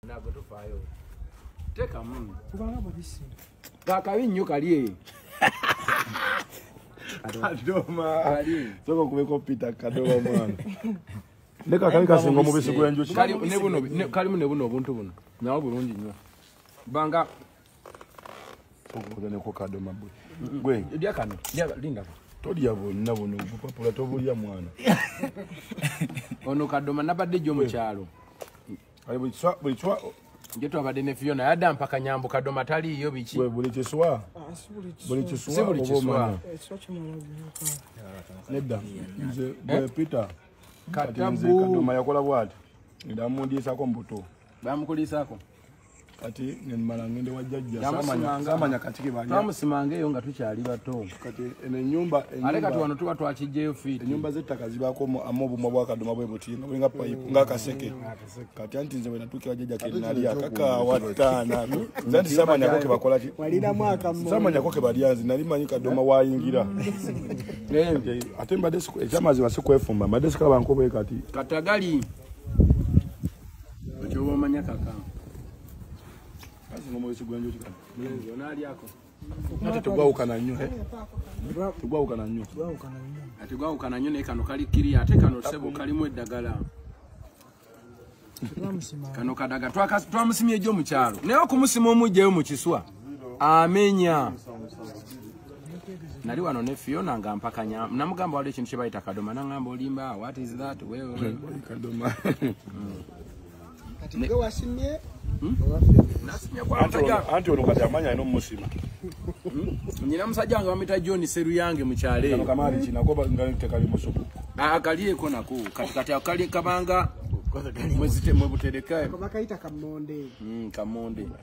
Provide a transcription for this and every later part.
ntabwo tuvayo teka mumi kubanga mubisi kakabi nnyo kali eyo kadoma soka okubeko pita kadoma mwana ne kakabi kasinga omubisi gwenjuki kalimu ne buno obuntu buno nawo bulungi nnyo banga okukuganeko kadoma bwe gwe lya kano lindako tolya bonna buno bupapula tobulya mwana ono kadoma nabadde gyo mukyalo Ayo buli kiswa buli kiswa nje twabadde ne Fiona yadda mpaka nyambu kadoma tali yo biki. Gwe buli kiswa. Ah, buli kiswa. Si buli kiswa. Nedda. Nze eh? bwe Peter. Katabu. Kadoma yakola bwati. Ndamundiisa ko mbuto. Bamukuliisa ko. kati nemala ngende wa jajja samanya kati kibanya tamusimanga eyo nga tukyali bato kati eno enyumba ale kati wano tuba twakijjeyo fiti enyumba z'ettaka zibaako amu obumwa bwakaduma bwe buti nga bulinga payipu nga akaseke kati anti nze wenatuukira jajja kenali akakaawa ttaana nze nti samanyako kebakola ki samanyako kebalya nze nali manyi kaduma wayingira ate mbadde ekyamazima sikwefumba mbadde sikaba nkobe kati katagali Ochoba omanya kaka. Kazi ngomo yesu gwanjo chika. Mwenzi, onali yako. Ate tugwawukana nnyo eh? tugwawukana nnyo ate gwawukana nnyo naye kano kali kiri ate kano sebo kalimu eddagala kano kadaga twamusimye ejjo mukyalo naye okumusima omujjayo mu kiswa amenya nali wano ne fiona nga mpakanya namugamba waliwo ekintu kyebayita kadoma nangamba olimba what is that kadoma anti ono kati amanya alina omusima nyina musajja wange bamita john seruyange mukyaleakalieko nako kati kati akali kabanga mwebutereka kamonde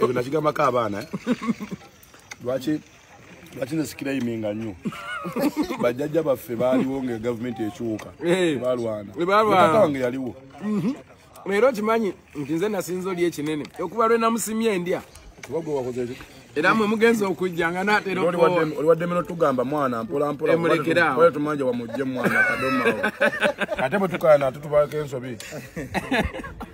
ebyo nakigambako abaana eh? lwaki lwaki nesikira iminga nnyo bajjajja baffe baaliwo nga gavumenti ekyuka eh. balwanawange yaliwo mhm. leero kimanyi nti nze nasinza oli ekinene okuba lwenamusimye endya era mwe mugenza okujja nga naterooliwaddemeno tugamba mwana mpolampolatumanja wamujje mwana kadoma ate bwetukana ate tubalako ensobi